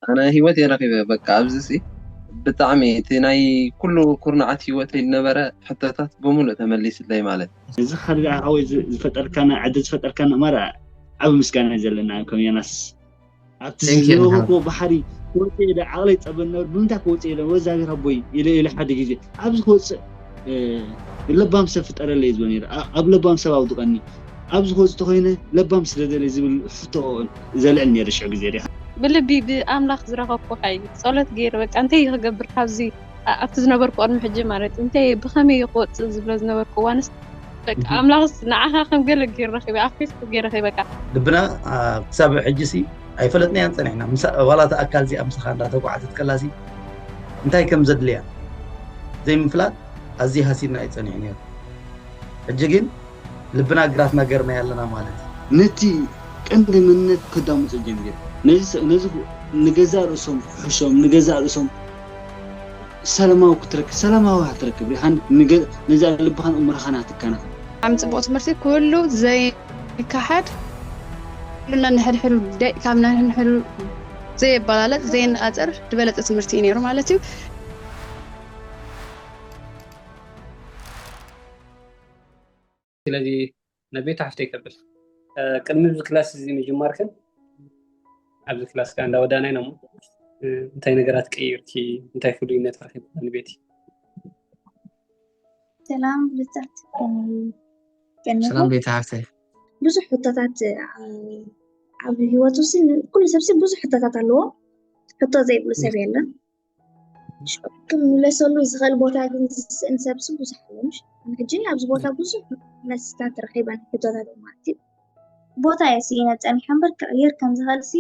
ኣነ ሂወተይ ረኪበ በቃ ኣብዚ ሲ ብጣዕሚ እቲ ናይ ኩሉ ኩርናዓት ሂወተይ ዝነበረ ሕቶታት ብምሉእ ተመሊስለይ ማለት። እዚ ከኣ ሓወይ ዝፈጠርካና ዕድል ዝፈጠርካና ማራ ዓቢ ምስጋና እዩ ዘለና ከም ዮናስ ኣብቲ Thank you ዝነበርኩ ንሓው። ባሕሪ ክወጽእ ኢለ ዓቕለይ ይጸበ ዝነበረ ብምንታይ ክወጽእ ኢለ ወ እግዚኣብሔር ኣቦይ ኢለ ኢለ ሓደ ግዜ ኣብዚ ክወጽእ ለባም ሰብ ፍጠረለይ ዝብሎ ነይረ። ኣብ ለባም ሰብ ኣውድቐኒ፣ ኣብዚ ክወጽእ ተኾይነ ለባም ስለ ደልየ ዝብል ሕቶ ዘልዕል ነይረ ሽዑ ግዜ ርኢኻ። ብልቢ ብኣምላኽ ዝረኸብኩ ሓይሊ ጸሎት ገይረ በቃ እንታይ እየ ክገብር ካብዚ ኣብቲ ዝነበርኩ ቅድሚ ሕጂ ማለት እንታይ እየ ብኸመይ እየ ክወጽእ ዝብሎ ዝነበርኩ እዋንስ በቃ ኣምላኽስ ንዓኻ ከም ገለ ገይሩ ረኺበ ኣፍሒፍኩ ገይረ ከይበቃ ልብና ክሳብ ሕጂሲ ኣይፈለጥናያን ጸኒሕና ዋላ እታ ኣካል እዚኣ ምሳኻ እንዳተጓዓዘት ከላሲ እንታይ ከም ዘድልያ ዘይምፍላጥ ኣዝዩ ሃሲድና እዩ ጸኒሑ ነይሩ። ሕጂ ግን ልብና ግራትና ገርናዮ ኣለና ማለት እዩ። ነቲ ቀንዲ መንነት ከዳምጹ ጀሚሮም። ነዚ ንገዛእ ርእሶም ክሕሾም፣ ንገዛእ ርእሶም ሰላማዊ ክትረክብ ሰላማዊ ኢኻ ትረክብ ርኢኻ ነዛ ልብኻን ኣእምሮኻን ኢኻ ትከናኸን። ብጣዕሚ ጽቡቅ ትምህርቲ ኩሉ ዘይካሓድ ኩሉ ነንሕድሕዱ ደቂቃ ነንሕድሕዱ ዘየበላለጽ ዘየነጻጽር ዝበለጸ ትምህርቲ እዩ ነይሩ ማለት እዩ። ስለዚ ነቤቱ ሓፍተይ ከብል ቅድሚ እዚ ክላስ እዚ ምጅማርክን ኣብዚ ክላስ ከዓ እንዳወዳና ኢና እሞ እንታይ ነገራት ቀይርኪ እንታይ ፍሉይነት ረኪብካ ንቤቲ ሰላም ብልፅዕት ሰላም ቤተ ሃፍተይ ብዙሕ ሕቶታት ኣብ ሂወቱ ኩሉ ሰብሲ ብዙሕ ሕቶታት ኣለዎ ሕቶ ዘይብሉ ሰብ የለን ክምለሰሉ ዝኽእል ቦታ ግን ዝስእን ሰብሲ ብዙሕ ኣለምሽ ሕጂ ኣብዚ ቦታ ብዙሕ መስታት ረኺበን ሕቶታት ማለት እዩ ቦታ'የ ስኢነ ጸኒሐ እምበር ክቕየር ከም ዝኽእልሲ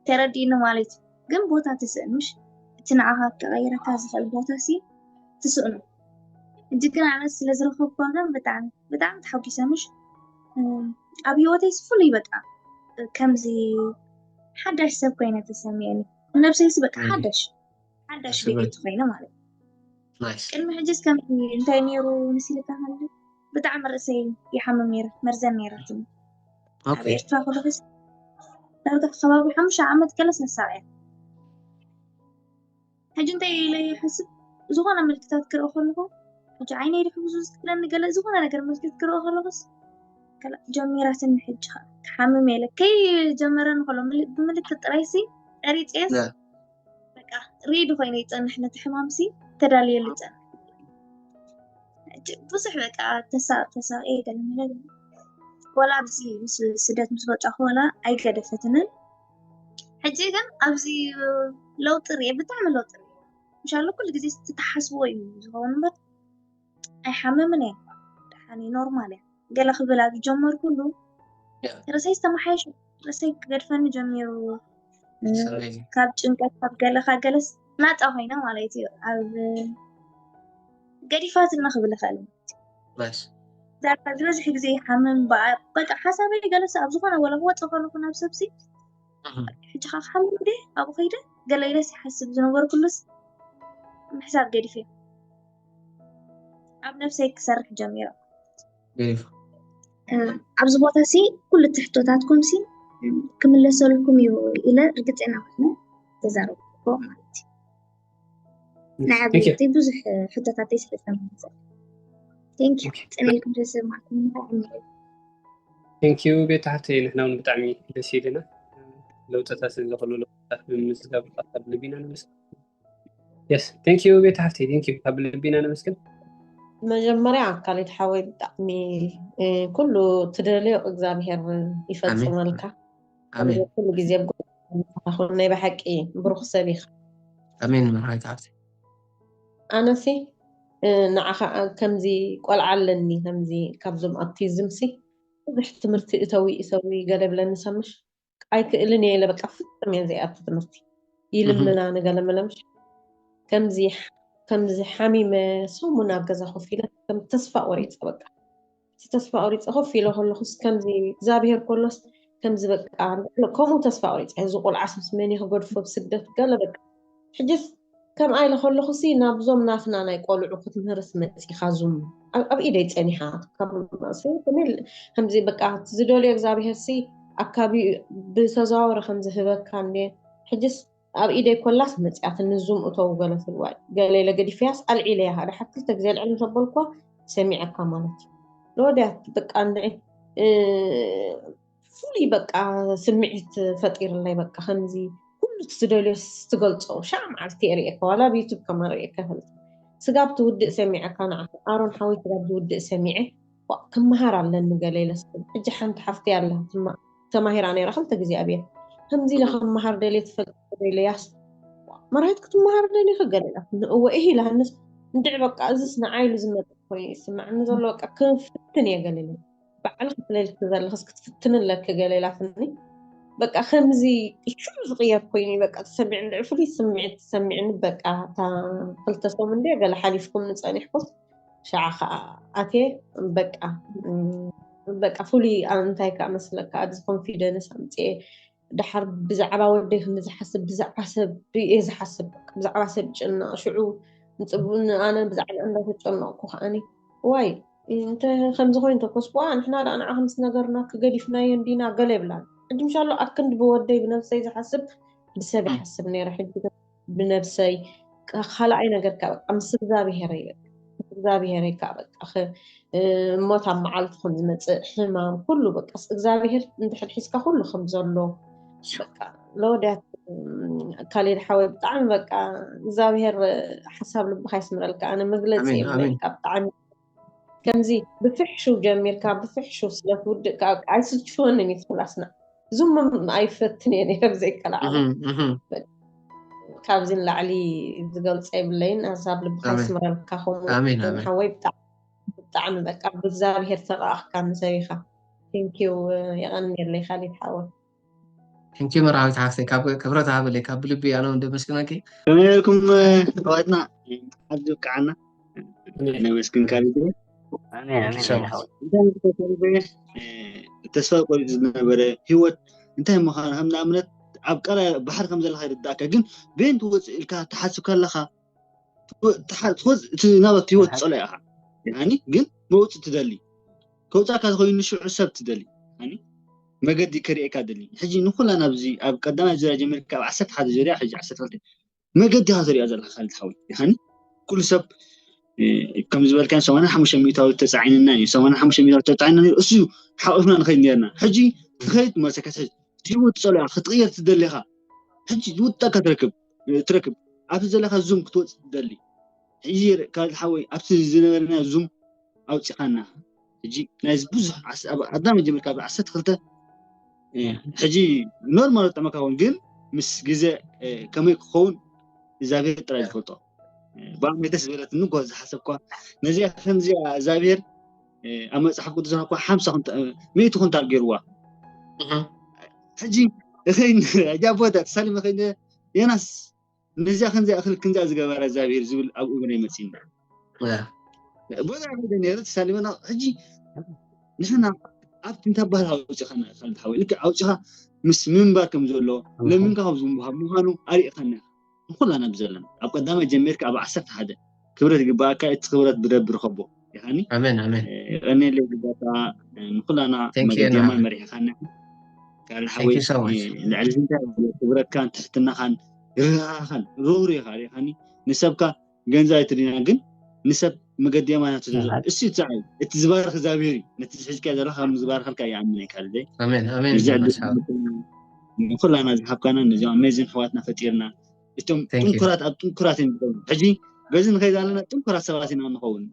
ተረዲኡኒ ማለት እዩ። ግን ቦታ ትስእን ምሽ እቲ ንዓኻ ክቐይረካ ዝኽእል ቦታሲ ትስእኑ። ሕጂ ግን ኣነ ስለ ዝረኸብኩዋ ግን ብጣዕሚ ብጣዕሚ ተሓጒሰ ምሽ ኣብ ህይወተይሲ ፍሉይ በቃ ከምዚ ሓዳሽ ሰብ ኮይነ ተሰሚዑኒ ንነብሰይሲ በቃ ሓዳሽ ሓዳሽ ቪድዮ ኮይነ ማለት ቅድሚ ሕጅስ ከም እንታይ ነይሩ ንስልካ ሃለ ብጣዕሚ ርእሰይ ይሓምም ነይረ መርዘን ነይራትኒ ኣብ ኤርትራ ክልክስ ዳርጋ ከባቢ ሓሙሻ ዓመት ገለ ሰሳዕ እያ ሕጂ እንታይ ኢለ ይሓስብ ዝኾነ ምልክታት ክርኢ ከለኹ ሕጂ ዓይነይ ድሕብዙ ዝክለኒ ገለ ዝኾነ ነገር ምልክት ክርኢ ከለኹስ ጀሚራትኒ ሕጂ ክሓምም የለ ከይጀመረኒ ከሎ ብምልክት ጥራይሲ ጠሪፅየስ በቃ ሬዲ ኮይነ ይፀንሕ ነቲ ሕማም ሲ ተዳልየሉ ይፀንሕ ብዙሕ በቃ ተሳቅ ተሳቅ እየ ገለ ነገር ወላ ኣብዚ ምስ ስደት ምስ ወፃኹ ወላ ኣይገደፈትንን ሕጂ ግን ኣብዚ ለውጢ ርየ ብጣዕሚ ለውጢ ርየ ምሻሉ ኩሉ ግዜ ዝተሓስቦ እዩ ዝኸውን እምበር ኣይሓምምን እየ ደሓን እየ ኖርማል እየ ገለ ክብል ኣብ ዝጀመርኩሉ ርእሰይ ዝተመሓየሸ ርእሰይ ክገድፈኒ ጀሚሩ ካብ ጭንቀት ካብ ገለ ካብ ገለስ ናፃ ኮይነ ማለት እዩ ኣብ ገዲፋትና ክብል ይኽእል ዝበዝሕ ግዜ ሓምም በቃ ሓሳበይ ገለሰ ኣብ ዝኾነ ወላ ክወፅ ከለኩ ናብ ሰብሲ ሕጂ ከዓ ክሓምም ደ ኣብኡ ከይደ ገለ ኢለስ ይሓስብ ዝነበርኩሉስ ምሕሳብ ገዲፈ ኣብ ነፍሰይ ክሰርሕ ጀሚረ። ገሪፍ ኣብዚ ቦታ ሲ ኩሉ እቲ ሕቶታትኩም ሲ ክምለሰልኩም እዩ ኢለ ርግፀና ኮይኑ ተዛረብኩ ማለት እዩ ናይ ኣብነቲ ብዙሕ ሕቶታተይ ስለ ዝተመለሰ ቴንክ ዩ ፅነኢልኩም ስለዝሰማዕኩም ብጣዕሚ ቴንክ ዩ ቤት ሓፍተይ ንሕና እውን ብጣዕሚ ደስ ኢልና ለውጥታት ስለዘኽሉ ለውጥታት ብምምዝጋብ ካብ ልቢና ንምስጋና የስ ቴንክ ዩ ቤት ሃፍቲ ቴንክ ዩ ካብ ልቢ ኢና ነመስግን መጀመርያ ካሊድ ሓወይ ብጣዕሚ እ፣ ኩሉ ትደልዮ እግዚኣብሄር ይፈፅመልካ ኣሜን ኩሉ ግዜ ኣብ ጎንኻ ኹን ናይ ብሓቂ ብሩኽ ሰብ ኢኻ ኣሜን መርሃዊት ሃብቲ ኣነሲ እ፣ ንዓኻ ከምዚ ቆልዓ ኣለኒ ከምዚ ካብዞም ኣብቲዝምሲ ብዙሕ ትምህርቲ እተዊ እሰዊ ገለ ብለኒ ሰምሽ ኣይክእልን እየ ኢለ በቃ ፍፅም እየ ዘይኣቱ ትምህርቲ ይልምና ንገለመለምሽ ከምዚ ከምዚ ሓሚመ ሰሙን ኣብ ገዛ ኮፍ ኢለ ከም ተስፋ ቆሪፀ በቃ እቲ ተስፋ ቆሪፀ ኮፍ ኢለ ከለኩስ ከምዚ እግዚኣብሄር ከሎስ ከምዚ በቃ ከምኡ ተስፋ ቆሪፀ እዚ ቆልዓስ ምስ መን ክገድፎ ብስደት ገለ በቃ ሕጅስ ከምኣ ኢለ ከለኹሲ ናብዞም ናትና ናይ ቆልዑ ክትምህርስ መጺኻ ዙም ኣብ ኢደይ ጸኒሓ ከመይ ከምዚ በቃ ዝደልዮ እግዚኣብሄርሲ ኣካቢ ብተዘዋወረ ከም ዝህበካ እንዴ ሕጅስ ኣብ ኢደይ ኮላስ መጽያትኒ ዙም እተው ገለ ትልዋይ ገለ ኢለ ገዲፈያስ ኣልዒለያ ደሓር ክልተ ግዜ ኣልዕል ምስ ኣበልኩዋ ሰሚዐካ ማለት እዩ ንወድያት በቃ እንድዒ ፍሉይ በቃ ስምዒት ፈጢርለይ በቃ ከምዚ ኩሉ ትደልዮ ትገልፆ ሻዕ መዓልቲ የርእየካ ዋላ ኣብ ዩቱብ ከማ ርእየካ ይፈልጥ ስጋብ ትውድእ ሰሚዐካ ንዓ ኣሮን ሓወይ ስጋብ ዝውድእ ሰሚዐ ክመሃር ኣለኒ ገለ ኢለስኩም ሕጂ ሓንቲ ሓፍቲ ኣላ ተማሂራ ነይራ ክልተ ግዜ ኣብየ ከምዚ ኢለ ክመሃር ደልየ ትፈልጥ ኢለያስ መራሒት ክትመሃር ደልየ ክገለ ኢላ ንእወ እህ ኢላሃንስ እንድዕ በቃ እዚስ ንዓይሉ ዝመጥ ኮይኑ ይስማዕኒ ዘሎ በቃ ክፍትን እየ ገለ ባዕልኺ ክትለልኪ ዘለኽስ ክትፍትኒ ኣለኪ ገለ ኢላትኒ በቃ ከምዚ ሽዑ ዝቕየር ኮይኑ በቃ ተሰሚዕኒ ልዕ ፍሉይ ስምዒት ተሰሚዕኒ በቃ እታ ክልተ ሰሙን ድየ ገለ ሓሊፍኩም ንፀኒሕኩም ሸዓ ከዓ ኣትየ በቃ በቃ ፍሉይ እንታይ ከዓ መስለካ ኣብዚ ኮንፊደንስ ኣምፅኤ ድሓር ብዛዕባ ወደይ ክም ዝሓስብ ብዛዕባ ሰብ እየ ዝሓስብ ብዛዕባ ሰብ ጭና ሽዑ ንፅቡ ኣነ ብዛዕባ እንዳተጨነቕኩ ከዓኒ ዋይ እንተ ከምዚ ኮይኑ ተኮስኩዋ ንሕና ደኣ ንዓ ከምስ ነገርና ክገዲፍናዮ እንዲና ገለ ይብላ ሕጂ ምሻሎ ኣክንዲ ብወደይ ብነብሰይ ዝሓስብ ብሰብ ይሓስብ ነይረ ሕጂ ብነብሰይ ካልኣይ ነገር ከ በቃ ምስ እግዚኣብሄረይ በቃ ምስ እግዚኣብሄረይ ከ በቃ ሞት ኣብ መዓልቲ ከም ዝመፅእ ሕማም ኩሉ በቃ እግዚኣብሄር እንድሕር ሒዝካ ኩሉ ከም ዘሎ በቃ ለወዳት ካሌድ ሓወይ ብጣዕሚ በቃ እግዚኣብሄር ሓሳብ ልብካ ይስምረልካ ኣነ መግለፂ የብለይ በቃ ብጣዕሚ ከምዚ ብፍሕሹው ጀሚርካ ብፍሕሹው ስለ ትውድእ ከኣ ኣይስልችወንን እዩ ትብላስና ዝምም ኣይፈትን እየ ነይረ ብዘይከላዓለ ካብዚ ንላዕሊ ዝገልፀ የብለይን ሀሳብ ልብካ ኣሜን ይስምረልካ ከምኡ ኣሜን ውን ኣሜን ሓወይ ብጣዕሚ ብጣዕሚ በቃ ብእግዚኣብሄር ተራኣኽካ ንሰብ ኢኻ ቴንኪው የቐንየለይ ካሊድ ሓወይ ሕንኪ መርሃዊት ሓፍተይ ካብ ክብረት ሃበለይ ካብ ብልቢ ኣነ እውን ደመስግነኪ ከመይ ኢልኩም ኣሕዋትና መዓዝ ዝብቅዓና ነመስግን ካብ ይግረ ተስፋ ቆሪጡ ዝነበረ ሂወት እንታይ ምዃኑ ከም ንኣብነት ኣብ ቀላይ ባሕሪ ከም ዘለካ ይርዳእካ ግን ቤን ትወፅእ ኢልካ ትሓስብ ከለካ ትወፅእ እቲ ናበት ሂወት ፀሎ ኢኻ ግን መውፅእ ትደሊ ከውጻካ ዝኸዩ ንሽዑ ሰብ ትደሊ ሃኒ መገዲ ክርእየካ ደሊ ሕጂ ንኹላ ናብዚ ኣብ ቀዳማይ ዙርያ ጀሚርካ ኣብ ዓሰርተ ሓደ ዙርያ ሕጂ ዓሰርተ ክልተ መገዲ ኢኻ ትርእያ ዘለካ ካልድ ሓወይ ሃኒ ኩሉ ሰብ ከም ዝበልካ ሰማንያ ሓሙሽተ ሚእታዊ ተፃዒንና እዩ ሰማንያ ሓሙሽተ ሚእታዊ ተፃዒንና እዩ እሱ ሓቂፍና ንኸይድ ነርና ሕጂ ትኸይድ መሰከት ሕጂ ሂወት ፀልያ ክትቕየር ትደሊኻ ሕጂ ዝውጣካ ትረክብ ትረክብ ኣብቲ ዘለካ ዙም ክትወጽእ ትደሊ ሕጂ ካልድ ሓወይ ኣብቲ ዝነበረና ዙም ኣውጽኻና ሕጂ ናይዚ ብዙሕ ኣድና መጀመርካ ኣብ ዓሰርተ ክልተ ሕጂ ኖርማል ጠመካ ውን ግን ምስ ግዜ ከመይ ክኸውን እግዚኣብሔር ጥራይ ዝፈልጦ ብኣመይተስ ዝበለትኒ ጓል ዝሓሰብኳ ነዚኣ ከምዚኣ እግዚኣብሔር ኣብ መፅሓፍ ቅዱስና እኳ ሓምሳ ሚእቲ ኩንታል ገይርዋ ሕጂ እኸይን ሕጂ ኣቦታ ተሳሊመ ከይደ ዮናስ ነዚያ ክንዚ ኣኽል ክንዚያ ዝገበረ እግዚኣብሄር ዝብል ኣብ እብነ ይመፅና ቦታ ከይደ ነይረ ተሳሊመና ሕጂ ንሕና ኣብቲ እንታይ ባህል ኣውፂኻና ካልቲ ሓወይ ልክዕ ኣውፂኻ ምስ ምንባር ከም ዘሎ ለሚንካ ካብ ዝምሃብ ምዃኑ ኣሪእኻና ንኩላና ብዘለና ኣብ ቀዳማይ ጀሚርካ ኣብ ዓሰርተ ሓደ ክብረት ይግበኣካ እቲ ክብረት ብደብ ርከቦ ይሃኒ ኣሜን ኣሜን የቀኒየለይ ግዳታ ንኩላና Thank you, መገዲማ ናህሪ። መሪሕኻና ካል Thank ሓወይ you so much. ልዕሊ ዝንታይ ክብረካን ትሕትናኻን ርህራኻን ርህሩ ኢኻ ሪኻኒ ንሰብካ ገንዘብ ኣይትድና ግን ንሰብ መገዲ የማናት ትደዞ እሱ ይትሰዓይ እቲ ዝባርኽ እግዚኣብሔር እዩ ነቲ ዝሕዝካዮ ዘለካ ከም ዝባርኸልካ ይኣምን እየ ካልደይ ንኩላና ዝሓብካና ነዚም ኣሜዚን ሕዋትና ፈጢርና እቶም ጥንኩራት ኣብ ጥንኩራት እዮም ዝኸውን ሕጂ በዚ ንኸይ ዘለና ጥንኩራት ሰባት ኢና ንኸውን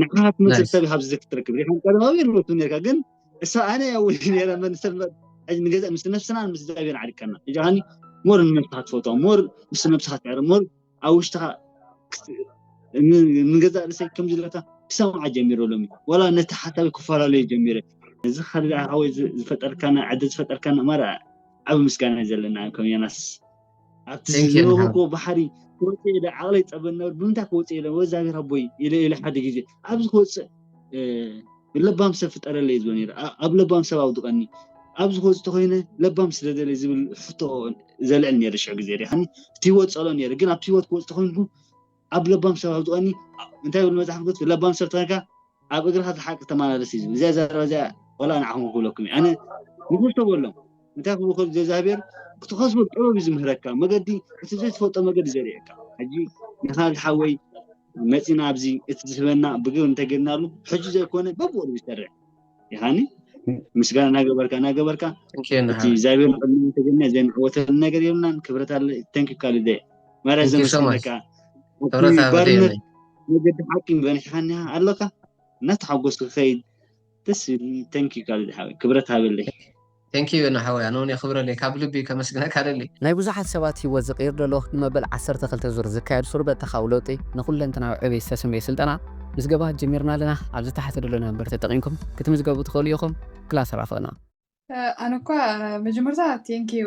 ንዓኻ ትመስል ሰብ ካብዚ ክትረክብ ሪኻ ቀደማዊ ርበቱ ነርካ ግን እሳ ኣነ ያውል ነረ መንሰብ ንገዛ ምስ ነብስና ምስ እግዚኣብሔር ዓሪቀና እጃኒ ሞር ንነብስካ ትፈትዋ ሞር ምስ ነብስካ ትዕረ ሞር ኣብ ውሽጥካ ንገዛ ርእሰይ ከምዚ ለካ ክሰምዓ ጀሚረ ሎሚ ወላ ነቲ ሓሳብ ክፈላለዩ ጀሚረ እዚ ካልእ ዝፈጠርካና ዕድል ዝፈጠርካና ማራ ዓብ ምስጋና ዘለና ከም ዮናስ ኣብቲ Thank you, ዝነበርኩ ንሓው። እኮ ባሕሪ ክወፅእ ኢለ ዓቕለይ ፀበ ነበር ብምንታይ ክወፅእ ኢለ ወይ እግዚኣብሔር ኣቦይ ኢለ ኢለ ሓደ ግዜ ኣብዚ ክወፅእ እ፣ ለባም ሰብ ፍጠረለይ ዝብል ነይረ ኣ- ኣብ ለባም ሰብ ኣውድቐኒ ኣብዚ ክወፅእ ተኮይነ ለባም ስደደለይ ዝብል ሕቶ ዘልዕል ነይረ ሽዑ ግዜ ሪኢኻኒ እቲ ህይወት ፀልኦ ነይረ ግን ኣብቲ ህይወት ክወፅእ ተኮይንኩ ኣብ ለባም ሰብ ኣብ ዝቐኒ እንታይ ይብል መጽሓፍ ቅዱስ ለባም ሰብ ተኸንካ ኣብ እግርኻ ተሓቅቅ ተመላለስ እዩ ዝብል እዚኣ ዘረባ እዚኣ ወላ ንዓኹም ክብለኩም እዩ ኣነ ንጉስ ተበሎም እንታይ ክብሉ ከሉ ዘእግዚኣብሔር ክትኸስቦ ጥበብ እዩ ዝምህረካ መገዲ እቲ ዘይትፈልጦ መገዲ ዘርእየካ ሕጂ ንኻልድ ሓወይ መጺና ኣብዚ እቲ ዝህበና ብግብሪ እንተጌርናሉ ሕጂ ዘይኮነ በብኡ ዝሰርዕ ይሃኒ ምስጋና እናገበርካ እናገበርካ እቲ እግዚኣብሔር ንቅድሚ ተገና ዘይንዕወተሉ ነገር የብልናን ክብረት ኣለ ተንኪ ካልደ ማርያ ዘመስለካ ባርነት መገዲ ሓቂ በኒሕካኒ ኣለካ እናተሓጎስኩ ከይድ ደስ ተንኪ ካልደ ሓወይ ክብረት ሃበለይ Thank you ዮና ሓወይ ኣነውን የኽብረለይ ካብ ልቢ ከመስግነካ እደሊ። ናይ ብዙሓት ሰባት ህይወት ዝቕይር ዘሎ ንመበል ዓሰርተ ክልተ ዙር ዝካየድ ሱር በተኻዊ ለውጢ ንኩለንተናዊ ዕብየት ዝተሰምየ ስልጠና ምዝገባ ጀሚርና ኣለና ኣብዚ ታሕቲ ዘሎ ነምበር ተጠቒምኩም ክትምዝገቡ ትኽእሉ ኢኹም ክላስ ራኸብና። ኣነ እኳ መጀመርታ ቴንክ ዩ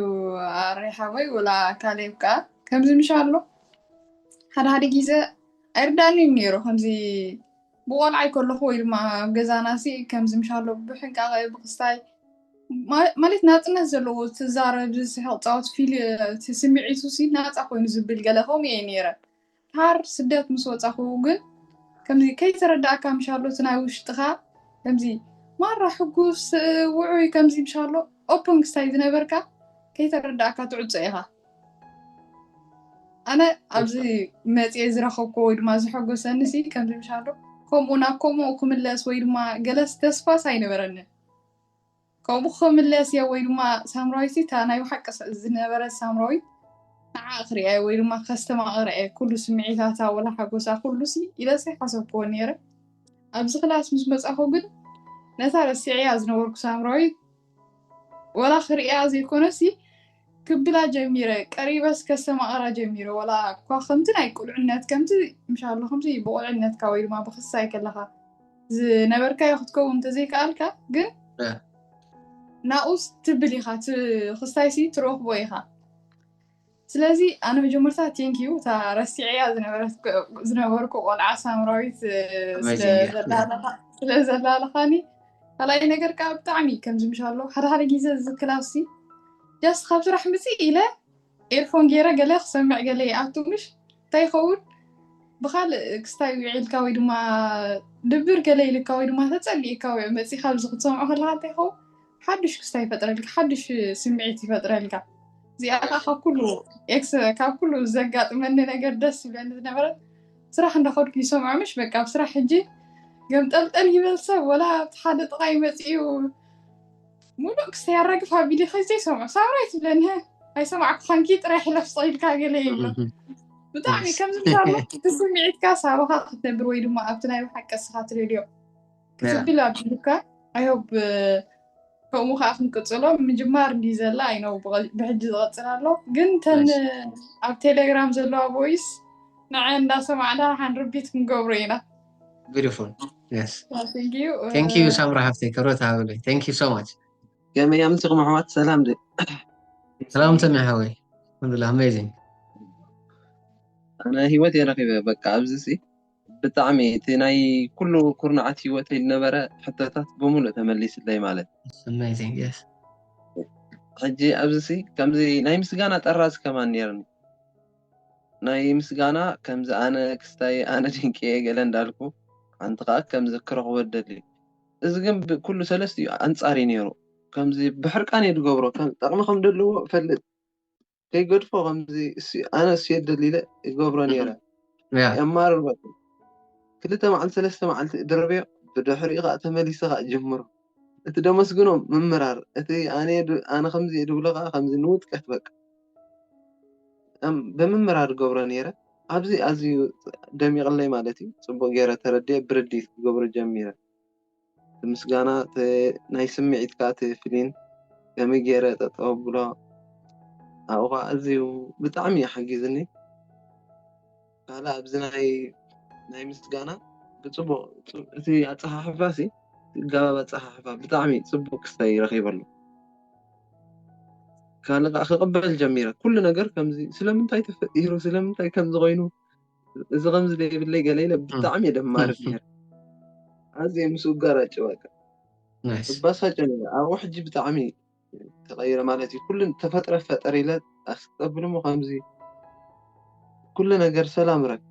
ኣሬ ሓወይ ወላ ካሌብ ከኣ ከምዚ ምሻሎ ሓደ ሓደ ግዜ ኣይርዳኣኒን ኔሩ ከምዚ ብቆልዓይ ከለኹ ወይ ድማ ኣብ ገዛናሲ ከምዚ ምሻሎ ብሕንቃቐ ብክስታይ ማለት ናጽነት ዘለዎ ትዛረብ ዝስሕቕ ጻወት ፊል እቲ ስምዒቱሲ ናጻ ኮይኑ ዝብል ገለ ከምኡ እየ ነይረ ድሓር ስደት ምስ ወጻኹ ግን ከምዚ ከይተረዳእካ ምሻሎ እቲ ናይ ውሽጥኻ ከምዚ ማራ ሕጉስ ውዑይ ከምዚ ምሻሎ ኦፕን ክስታይ ዝነበርካ ከይተረዳእካ ትዕጾ ኢኻ ኣነ ኣብዚ መፅኤ ዝረኸብኩ ወይ ድማ ዝሐጎሰኒ ሲ ከምዚ ምሻሎ ከምኡ ናብ ከምኡ ክምለስ ወይ ድማ ገለስ ተስፋስ ኣይነበረንን ከምኡ ክምለስ እየ ወይ ድማ ሳምራዊት እታ ናይ ብሓቂ ዝነበረት ሳምራዊት ንዓ ክሪያ ወይ ድማ ከስተማቕረ እየ ኩሉ ስምዒታታ ወላ ሓጎሳ ኩሉ ሲ ኢለሲ ሓሰብክዎ ነይረ ኣብዚ ክላስ ምስ መፃኹ ግን ነታ ረሲዐያ ዝነበርኩ ሳምራዊት ወላ ክርእያ ዘይኮነሲ ክብላ ጀሚረ ቀሪበስ ከስተማቕራ ጀሚረ ወላ እኳ ከምቲ ናይ ቁልዕነት ከምቲ ምሻሎ ከምቲ ብቑልዕነትካ ወይ ድማ ብክስታይ ከለኻ ዝነበርካዮ ክትከውን እንተዘይከኣልካ ግን እ። ናኡስ ትብል ኢኻ እቲ ክስታይሲ ትረኽቦ ኢኻ ስለዚ ኣነ መጀመርታ ቴንክ ዩ እታ ረሲዐያ ዝነበርኩ ቆልዓ ሳምራዊት ስለዘላለኻኒ ካልኣይ ነገር ከዓ ብጣዕሚ ከምዚ ምሻሎ ሓደ ሓደ ግዜ እዚ ክላሲ ጃስ ካብ ስራሕ ምፅእ ኢለ ኤርፎን ገይረ ገለ ክሰምዕ ገለ ይኣቱ ምሽ እንታይ ይኸውን ብካልእ ክስታይ ዊዒልካ ወይ ድማ ድብር ገለ ኢልካ ወይ ድማ ተፀሊእካ ወይ መፂእካ ኣብዚ ክትሰምዖ ከለካ እንታይ ይኸውን ሓዱሽ ክስታይ ይፈጥረልካ ሓዱሽ ስምዒት ይፈጥረልካ እዚኣ ከዓ ካብ ኩሉ ኤክስ ካብ ኩሉ ዘጋጥመኒ ነገር ደስ ይብለኒ ዝነበረ ስራሕ እንዳኸድኩ ይሰምዖ ምሽ በቃ ኣብ ስራሕ ሕጂ ገምጠልጠል ይበል ሰብ ወላ ሓደ ጥቃይ መፂኡ ሙሉእ ክስተ ያራግፍ ኣብ ቪድዮ ከዘይ ሰምዑ ሳምራይ ትብለኒ ኣይሰማዕኩኻንኪ ጥራይ ሕለፍ ስጠኢልካ ገለ ይብሎ ብጣዕሚ ከምዚ ምሳሎ ብስምዒትካ ሳባኻ ክትነብር ወይ ድማ ኣብቲ ናይ ብሓቂ ስኻ ትደልዮ ክትብል ኣብልካ ኣይሆብ ከምኡ ከዓ ክንቅፅሎ ምጅማር እንዲ ዘላ ኣይነው ብሕጂ ዝቐፅል ኣሎ ግን ተን ኣብ ቴሌግራም ዘለዋ ቦይስ ንዐ እንዳሰማዕና ሓንርቢት ክንገብሮ ኢና ቢዩቲፉል የስ Thank you. ቴንክ ዩ ሳምራ ሃፍተይ ክብረት ሃበለይ ቴንክ ዩ ሶ ማች ከመይ እያ ምስኹም ኣሕዋት ሰላም ድ ሰላም ሰሚ ሓወይ ኣልሓምዱላ ኣሜዚንግ ኣነ ሂወት እየ ረኪበ በቃ ኣብዚ ሲ ብጣዕሚ እቲ ናይ ኩሉ ኩርናዓት ሂወተይ ዝነበረ ሕቶታት ብምሉእ ተመሊስለይ ማለት ኣሜዚንግ የስ ሕጂ ኣብዚ ሲ ከምዚ ናይ ምስጋና ጠራዚ ከማን ነርኒ ናይ ምስጋና ከምዚ ኣነ ክስታይ ኣነ ድንቂየ ገለ እንዳልኩ ሓንቲ ከኣ ከምዚ ክረክቦ ዝደሊ እዚ ግን ብ ኩሉ ሰለስቲኡ ኣንጻር እዩ ኔሩ ከምዚ ብሕርቃን እየ ዝገብሮ ከም ጠቅሚ ከም ደለዎ እፈልጥ ከይገድፎ ከምዚ እሱ ኣነ እሱ እየ ደሊ ኢለ ይገብሮ ኔረ ያ የማርር በቃ ክልተ መዓልቲ ሰለስተ መዓልቲ እድርብዮ ብድሕሪኡ ከኣ ተመሊሰ ከኣ እጅምሮ እቲ ደመስግኖም ምምራር እቲ ኣነ ኣነ ከምዚ እየ ድብሎ ከዓ ከምዚ ንውድቀት በቃ ብምምራር ገብሮ ነይረ ኣብዚ ኣዝዩ ደሚቕለይ ማለት እዩ ፅቡቕ ገይረ ተረዲኤ ብርድኢት ክገብሮ ጀሚረ እቲ ምስጋና ናይ ስምዒት ከዓ እቲ ፍሊን ከመይ ገይረ ጠጠው ኣብሎ ኣብኡ ከዓ ኣዝዩ ብጣዕሚ እዩ ሓጊዙኒ። ካልእ ኣብዚ ናይ ናይ ምስጋና ብፅቡቅ እቲ ኣፀሓሕፋ ሲ ጋባብ ኣፀሓሕፋ ብጣዕሚ ፅቡቅ ክስታይ ረኺበሉ ካልእ ከዓ ክቕበል ጀሚረ ኩሉ ነገር ከምዚ ስለምንታይ ተፈጢሩ ስለምንታይ ከምዚ ኮይኑ እዚ ከምዚ ዘይብለይ ገለ ኢለ ብጣዕሚ እየ ደማርፍ ነይረ ኣዝየ ምስ ውጋር ኣጭዋካ እባሳጨ ነይረ ኣብኡ ሕጂ ብጣዕሚ ተቐይረ ማለት እዩ ኩሉ ተፈጥረ ፈጠር ኢለ ኣስተብል ሞ ከምዚ ኩሉ ነገር ሰላም ረክ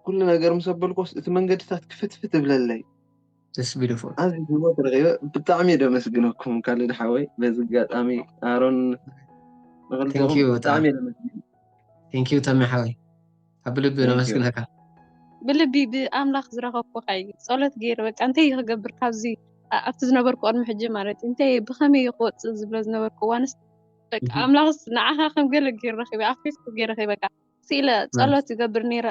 ኩሉ ነገር ምስ ኣበልኮስ እቲ መንገድታት ክፍትፍት እብለለይ ደስ ቢሉ ፎ ኣብዚ ህይወት ረኺበ ብጣዕሚ እየ ደመስግነኩም ካልድ ሓወይ በዚ ኣጋጣሚ ኣሮን ንክልቲኹም Thank you ብጣዕሚ እየ ደመስግን ቴንኪዩ ተሚ ሓወይ ኣብ ልቢ ነመስግነካ ብልቢ ብኣምላኽ ዝረኸብኩካ እዩ ጸሎት ገይረ በቃ እንታይ እዩ ክገብር ካብዚ ኣብቲ ዝነበርኩ ቅድሚ ሕጂ ማለት እዩ እንታይ ብኸመይ እዩ ክወፅእ ዝብሎ ዝነበርኩ እዋንስ በቃ ኣምላኽስ ንዓኻ ከም ገለ ገይረ ረኺበ ኣብ ፌስቡክ ገይረ ረኺበ በቃ ስኢለ ጸሎት ይገብር ነይረ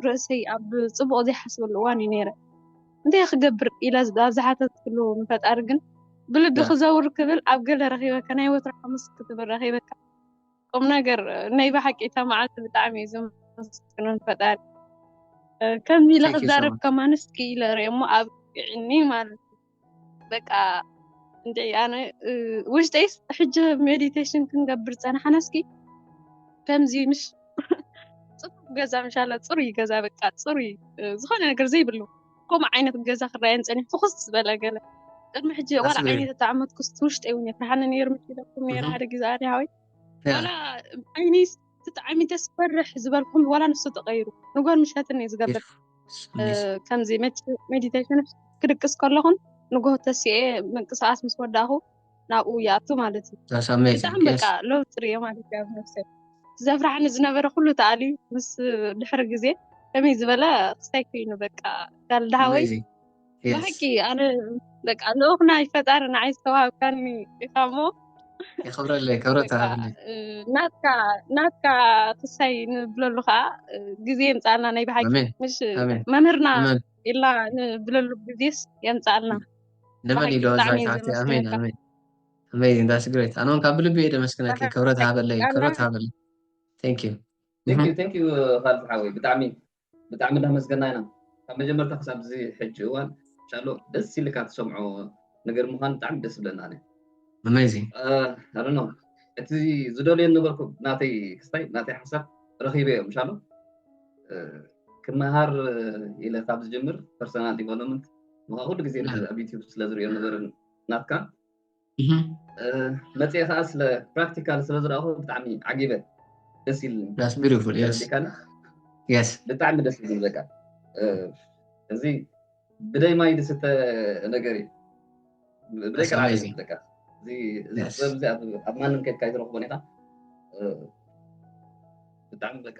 ርእሰይ ኣብ ፅቡቕ ዘይሓስበሉ እዋን እዩ ነይረ እንታይ ክገብር ኢለ ኣብ ዝሓተትክሉ ንፈጣሪ ግን ብልቢ ክዘውር ክብል ኣብ ገለ ረኺበካ ናይ ወትሮ ሓሙስ ክትብል ረኺበካ ቁም ነገር ናይ ብሓቂ እታ መዓልቲ ብጣዕሚ እዩ ዘመስግኖን ፈጣሪ ከምዚ ኢለ Thank you so ክዛረብ much. ከማንስ እስኪ ኢለ ርኦ እሞ ኣብቅዕኒ ማለት እዩ በቃ እንዲ ኣነ እ፣ ውሽጠይስ ሕጂ ሜዲቴሽን ክንገብር ፀናሕና እስኪ ከምዚ ምሽ ፅፉፍ ገዛ ምሻላ ፅሩይ ገዛ በቃ ፅሩይ እ፣ ዝኾነ ነገር ዘይብሉ ከምኡ ዓይነት ገዛ ክረኣየን ፀኒሑ ፍኹስ ዝበለ ገለ ቅድሚ ሕጂ ዋላ ኣስበይ። ዓይነይ ተተዓመት ክስቲ ውሽጠይ እውን የፍርሓኒ ነይሩ መኪለኩም ነይረ እህ። ሓደ ግዜ ኣነ ሃወይ ያ። ዋላ ዓይነይ ተጣዕሚተ ስፈርሕ ዝበልኩም ዋላ ንሱ ተቐይሩ ንጎን ምሸትን እዩ ዝገብር ስሚስ። እ፣ ከምዚ ሜዲቴሽን ክድቅስ ከለኹን ንጎሆ ተሲኤ ምንቅስቓስ ምስ ወዳእኹ ናብኡ ይኣቱ ማለት እዩ። እዛ ሳምናይ ብጣዕሚ ዘርግያስ በቃ ለውጢ ርእየ ማለት እዩ ኣብ ነብሰይ። እቲ ዘፍርሓኒ ዝነበረ ኩሉ ተኣልዩ ምስ ድሕሪ ግዜ ከመይ ዝበለ ክስታይ ኮይኑ በቃ ጋል ደሃወይ amazing yes ብሓቂ ኣነ በቃ ልኡኽ ናይ ፈጣሪ ንዓይ ዝተዋሃብካኒ ኢኻ እሞ የኽብረለይ ክብረት በቃ ተሃብለይ እ፣ ናትካ ናትካ ክሳይ ንብለሉ ከዓ እ፣ ግዜ የምፅኣልና ናይ ብሓቂ ኣሜን ምሽ ኣሜን መምህርና ኣሜን ኢልና ንብለሉ ግዜስ የምፅኣልና ንመን እዩ ዶ ብጣዕሚ እየ ኣድራይታ ኣሜን ዘመስግነካ ኣሜን ኣሜዚንግ ዳስ ግሬት ኣነ እውን ካብ ብልቢ እየ ደመስግነኪ ኣነ ክብረት ሃበለይ ኣነ ክብረት ሃበለይ ቴንክ ዩ ቴንክ ዩ ቴንክ ዩ ካልድ ሓወይ ብጣዕሚ ብጣዕሚ እንዳመስገና ኢና ካብ መጀመርታ ክሳብ እዚ ሕጂ እዋን ሻሎ ደስ ኢልካ ትሰምዖ ነገር ምዃኑ ብጣዕሚ ደስ ይብለና ኣነ ኣሜዚንግ ኣረኖ እቲ ዝደልዮ ነበርኩ ናተይ ክስታይ ናተይ ሓሳብ ረኺበዮ ምሻሎ ክመሃር ኢለ ካብ ዝጅምር ፐርሰናል ዲቨሎፕመንት ምኻ ኩሉ ግዜ ኣብ ዩቲብ ስለ ዝሪኦ ነበርን ናትካ መፅኤ ከዓ ስለ ፕራክቲካል ስለ ዝረኣኹ ብጣዕሚ ዓጊበ ደስ ኢልኒ ብጣዕሚ ደስ ኢልኒ በቃ እዚ ብደይ ማይ ዝስተ ነገር እዩ ብደይ ቀርዓ በቃ እዚ ኣብ ማንም ከድካ ይትረኽቦን ኢኻ ብጣዕሚ በቃ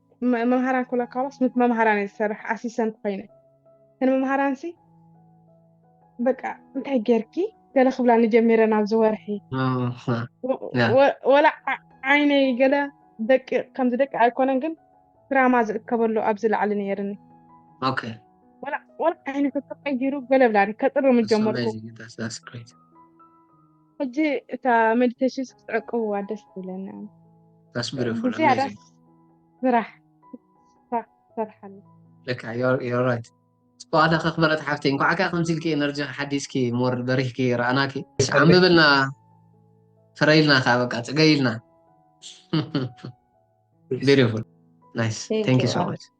መምሃራን ኩላ ካባስ ምስ መምሃራን እየ ዝሰርሕ ኣሲሰንት ኮይነ ንመምሃራን ሲ በቃ እንታይ ጌርኪ ገለ ክብላ ንጀሚረ ናብዚ ወርሒ ወላ ዓይነይ ገለ ደቂ ከምዚ ደቂ ኣይኮነን ግን ድራማ ዝእከበሉ ኣብዚ ላዕሊ ነይርኒ ወላ ዓይነቱ ተቀይሩ ገለ ብላኒ ከጥርም ጀመርኩ ሕጂ እታ መዲተሽንስ ክትዕቅብዋ ደስ ትብለኒ That's beautiful, ብዙ ያዳ amazing. ስራሕ ስራሕ ትሰርሓሉ Look, you're, you're right. ጽቡቅ ኣለኺ ክበረት ሓፍተይ እንኳዕ ከ ከምዚ ኢልኪ ኤነርጂ ሓዲስኪ ሞር በሪህኪ ረኣናኪ እሺ፣ ዓምብብልና ፍረይልና ከዓ በቃ ጽገይልና ቢዩቲፉል ናይስ Thank ቴንክ ዩ you. ሶ ማች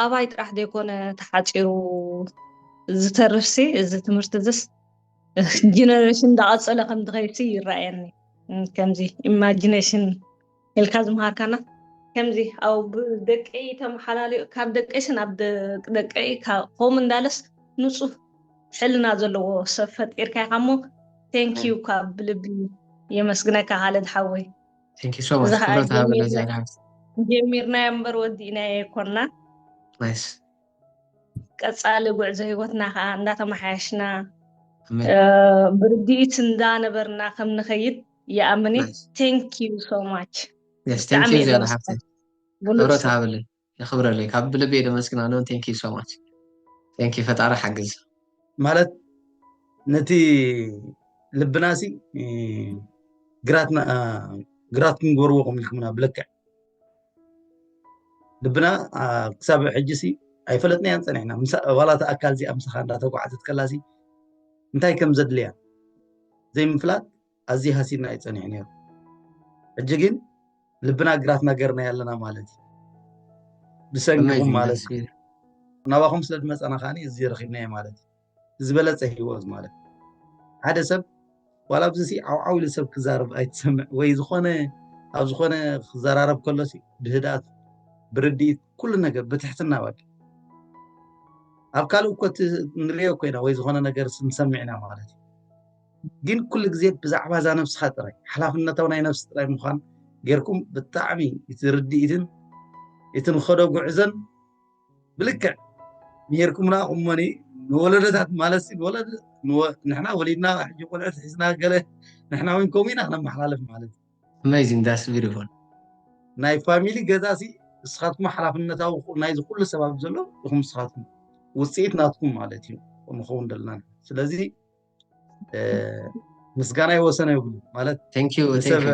ኣባይ ጥራሕ ዘይኮነ ተሓፂሩ ዝተርፍ ሲ እዚ ትምህርቲ እዚስ ጀነሬሽን እንዳቐፀለ ከም ዝኸይድሲ ይረኣየኒ ከምዚ ኢማጂኔሽን ኢልካ ዝምሃርካና ከምዚ ኣብ ደቀይ ተመሓላልዮ ካብ ደቀይሲ ናብ ደቀይ ከምኡ እንዳለስ ንፁህ ሕልና ዘለዎ ሰብ ፈጢርካ ኢኻ እሞ ቴንኪዩ ካብ ብልቢ የመስግነካ ሃለድ ሓወይ ጀሚርናዮ እምበር ወዲእናዮ ኣይኮና ቀፃሊ ጉዕዞ ሂወትና ከዓ እንዳተመሓየሽና ብርድኢት እንዳነበርና ከም ንኸይድ ይኣምን ቴንክ ዩ ሶ ማች ብጣዕሚ ብሮት ሃበለይ የኽብረለይ ካብ ብልቢ እየ ደመስግና ሎን thank you so much thank you ፈጣሪ ሓግዝ። ማለት ነቲ ልብና ሲ ግራትኩም ጎርዎ ኮም ኢልኩምና ብልክዕ ልብና ክሳብ ሕጂ ሲ ኣይፈለጥናያን ፀኒሕና ዋላ እቲ ኣካል እዚኣ ምሳኻ እንዳተጓዓዘት ከላ ሲ እንታይ ከም ዘድልያ ዘይምፍላጥ ኣዝዩ ሃሲና እዩ ጸኒሑ ነይሩ ሕጂ ግን ልብና ግራትና ገርና ኣለና ማለት እዩ ብሰንኪኹም ማለት እዩ ናባኹም ስለ ዝመፀና ከዓ እዚ ረኪብናዮ ማለት እዩ ዝበለፀ ሂወት ማለት ሓደ ሰብ ዋላ ኣብዚ ሲ ዓውዓው ኢሉ ሰብ ክዛረብ ኣይትሰምዕ ወይ ዝኾነ ኣብ ዝኾነ ክዘራረብ ከሎ ብህድኣት ብርድኢት ኩሉ ነገር ብትሕትና ባቂ ኣብ ካልእ እኮ ንሪኦ ኮይና ወይ ዝኾነ ነገር ስንሰምዕ ኢና ማለት እዩ ግን ኩሉ ግዜ ብዛዕባ እዛ ነብስኻ ጥራይ ሓላፍነታዊ ናይ ነብሲ ጥራይ ምዃን ጌርኩም ብጣዕሚ እቲ ርድኢትን እቲ ንኸዶ ጉዕዘን ብልክዕ ምሄርኩምና ቁመኒ ንወለደታት ማለት ንወለደ ንሕና ወሊድና ሕጂ ቆልዑት ሒዝና ገለ ንሕና እውን ከምኡ ኢና ክነመሓላልፍ ማለት ኣሜዚንግ ዳስ ቢዩቲፉል ናይ ፋሚሊ ገዛ ሲ ንስኻትኩም ሓላፍነታዊ ናይዚ ኩሉ ሰብ ኣብ ዘሎ ኢኹም ንስኻትኩም ውፅኢት ናትኩም ማለት እዩ ንኸውን ዘለና ስለዚ ምስጋና ይወሰነ ይብሉ ማለት ሰብ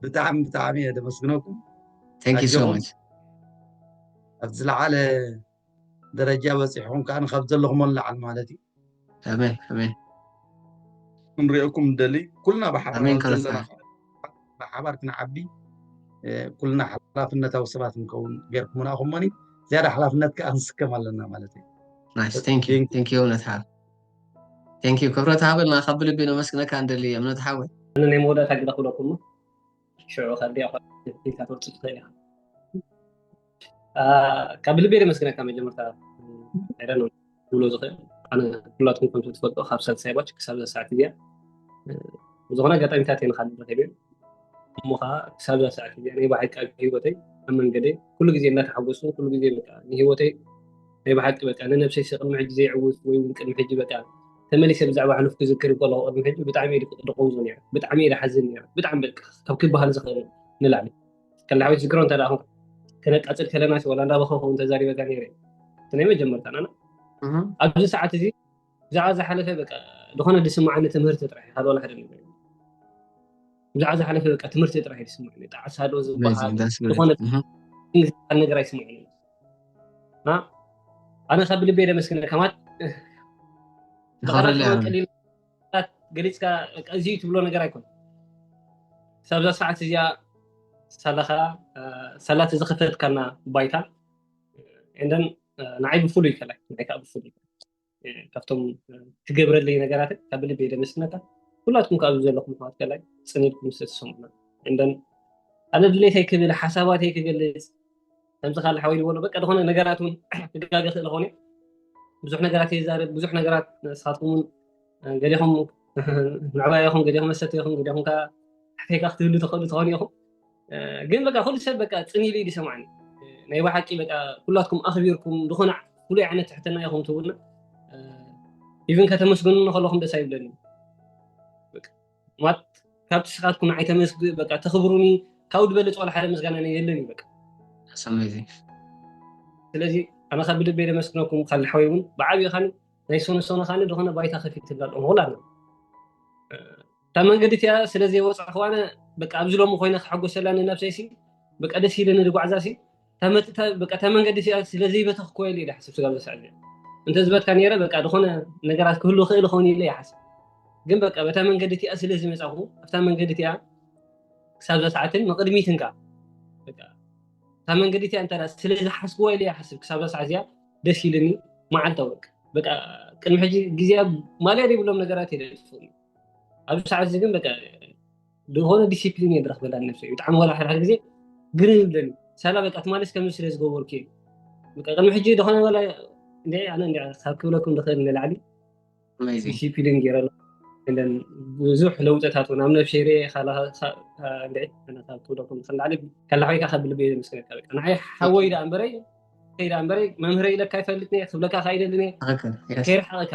ብጣዕሚ ብጣዕሚ እየ ደመስግነኩም ኣብቲ ዝለዓለ ደረጃ በፂሕኩም ከዓ ካብ ዘለኹሞ ንላዓል ማለት እዩ ክንሪኦኩም ንደሊ ኩልና ብሓባር ክንዓቢ ኩልና ሓላፍነታዊ ሰባት ንከውን ገይርኩምና ኩሞኒ ዝያዳ ሓላፍነት ከዓ ንስከም ኣለና ማለት እዩ ቴንኪዩ ክብረት ሃበልና ካብ ብልቢ ነመስግነካ እንደሊ እምነት ሓወይ ኣነ ናይ መወዳእታ ግደ ክብለኩሞ ሽዑ ከቢያ ኢልካ ትወፅእ ትኽእል ኢኻ ካብ ልቤ ደመስግነካ መጀመርታ ዕረ ነው ብሎ ዝኽእል ኣነ ኩላትኩም ከምቲ ትፈልጦ ካብ ሳልሳይ ባች ክሳብ እዛ ሰዓት እዚኣ ዝኾነ ኣጋጣሚታት እየ ንካልእ ረኪበ እሞ ከዓ ክሳብ እዛ ሰዓት እዚኣ ናይ ባዕልካ ሂወተይ ኣብ መንገደይ ኩሉ ግዜ እናተሓጎሱ ኩሉ ግዜ ንሂወተይ ናይ ብሓቂ በቃ ንነብሰይ ቅድሚ ሕጂ ዘይዕውት ወይ እውን ቅድሚ ሕጂ በቃ ተመሊሰ ብዛዕባ ሕሉፍ ክዝክር ከለኩ ቅድሚ ሕጂ ብጣዕሚ እየ ድቀውዞ ነረ ብጣዕሚ እየ ድሓዝን ነረ ብጣዕሚ በቃ ካብ ክበሃል ዝኽእል ንላዕሊ ከላሓዊት ዝግሮ እንተ ደኣ ከነቃፅል ከለና ወላ እንዳበኸኹ ተዛሪበካ ነረ እቲ ናይ መጀመርታ ናና ኣብዚ ሰዓት እዚ ብዛዕባ ዝሓለፈ በቃ ዝኾነ ዝስምዓኒ ትምህርቲ ጥራሕ እዩ ካልእ ሓደ ነገር ብዛዕባ ዝሓለፈ በቃ ትምህርቲ ጥራሕ እዩ ዝስምዓኒ ጣዕሳ ዶ ዝበሃል ዝኾነ ዝበሃል ነገር ኣይስምዓኒ ኣነ ካብ ብልቤ ደመስግነ ከማት ገሊፅካ እዚ ትብሎ ነገር ኣይኮነ ሳብዛ ሰዓት እዚኣ ሳላኻ ሳላ ተዝኸፈትካና ባይታ ንዓይ ብፍሉይ ከላይ ንዓይ ከዓ ብፍሉይ ካብቶም ትገብረለይ ነገራት ካብ ልብ የደመስነካ ኩላትኩም ካብ ዘለኹም ኣሕዋት ከላይ ፅኒድኩም ዝተሰሙና እንደን ኣነ ድሌተይ ክብል ሓሳባተይ ክገልፅ ከምዚ ካል ሓወይ ዝበሎ በቃ ዝኾነ ነገራት እውን ክጋገ ክእል ኾነ ብዙሕ ነገራት የዛርብ ብዙሕ ነገራት ንስኻትኩም እውን ገዲኹም ምዕባይ ኢኹም ገዲኹም መሰተ ኢኹም ገዲኹም ከዓ ሕተይካ ክትህሉ ተኽእሉ ትኾኑ ኢኹም ግን በቃ ኩሉ ሰብ በቃ ፅን ኢሉ እዩ ሰማዕኒ ናይ ብሓቂ በቃ ኩላትኩም ኣኽቢርኩም ዝኾነ ፍሉይ ዓይነት ትሕትና ኢኹም ትብሉና ኢቨን ከተመስግኑ ከለኹም ደስ ኣይብለኒ ማለት ካብ ትስኻትኩም ንዓይ ተመስግ በቃ ተኽብሩኒ ካብኡ ዝበለፅ ዋላ ሓደ ምስጋና የለን እዩ በቃ ሰመዚ ስለዚ ኣነ ካብ ብልበይ ደመስግነኩም ካብ ንሓወይ እውን ብዓብዪ ካኒ ናይ ሶነ ሶነ ካኒ ዝኾነ ባይታ ከፊት ትብላ ኣለኹ ኩላ እታ መንገዲ እቲኣ ስለ ዘይወጻኹዋነ በቃ ኣብዚ ሎሚ ኮይነ ክሕጎሰላ ንነብሰይሲ በቃ ደስ ኢለ ንድጓዕዛሲ በቃ እታ መንገዲ እቲኣ ስለ ዘይበተኽኩወ ኢለ ይሓስብ ስጋብ ዘስዕብ እንተዝበትካ ነይረ በቃ ዝኾነ ነገራት ክህሉ ክእል ኸውን ኢለ ይሓስብ ግን በቃ በታ መንገዲ እቲኣ ስለ ዝመፃኹ ኣብታ መንገዲ እቲኣ ክሳብ ዘስዓትን ንቅድሚትን ከዓ በቃ እታ መንገዲ እቲኣ እንተ ስለ ዝሓስብዎ ኢለ ይሓስብ ክሳብ ዘስዓ እዚኣ ደስ ኢልኒ መዓልታ ወቅ በቃ ቅድሚ ሕጂ ግዜ ማልያ ዘይብሎም ነገራት የደልፍኒ ኣብዚ ሰዓት እዚ ግን በቃ ዝኾነ ዲሲፕሊን እየ ዝረክበላ ነብሰ ብጣዕሚ ዋላ ሓድሓደ ግዜ ግር ይብለኒ ሳላ በቃ ትማለስ ከምዚ ስለ ዝገበርኩ እዩ በቃ ቅድሚ ሕጂ ዝኾነ ዋላ ኣነ ካብ ክብለኩም ዝኽእል ንላዕሊ ዲሲፕሊን ገይረ ብዙሕ ለውጥታት እውን ኣብ ነብሰይ ርኤ ካብ ክብለኩም ዝኽእል ንላዕሊ ከላሓወይካ ካብ ልቢ እየ ዘመስግነካ በቃ ንዓይ ሓወይ ደኣ እምበረይ ከይዳ እምበረይ መምህረይ ኢለካ ይፈልጥኒ እየ ክብለካ ከኣ ይደልን እየ ከይርሓቐካ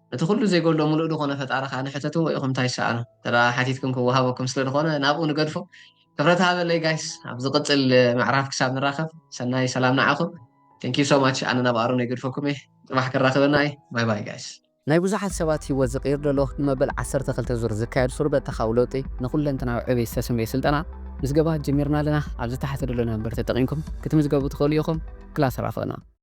እቲ ኩሉ ዘይጎሎ ምሉእ ድኾነ ፈጣሪ ከኣ ንሕተትዎ ኢኹም ታይ ትሰኣኑ እንተ ሓቲትኩም ክወሃበኩም ስለ ድኾነ ናብኡ ንገድፎ ክብረት ሃበለይ ጋይስ ኣብ ዝቅጽል ምዕራፍ ክሳብ ንራኸብ ሰናይ ሰላም ንዓኹም Thank you so much ኣነ ናብ ኣሮነይ እገድፈኩም እየ ጽባሕ ከራኽበና እዩ ባይ ባይ ጋይስ። ናይ ብዙሓት ሰባት ህይወት ዝቕይር ዘሎ ንመበል ዓሰርተ ክልተ ዙር ዝካየድ ስሩዕ በተኻዊ ለውጢ ንኹለንተናዊ ዕብየት ዝተሰምየ ስልጠና ምዝገባ ጀሚርና ኣለና ኣብዚ ታሕቲ ዘሎ ናምበር ተጠቒምኩም ክትምዝገቡ ትኽእሉ ኢኹም ክላስ ራኽበና።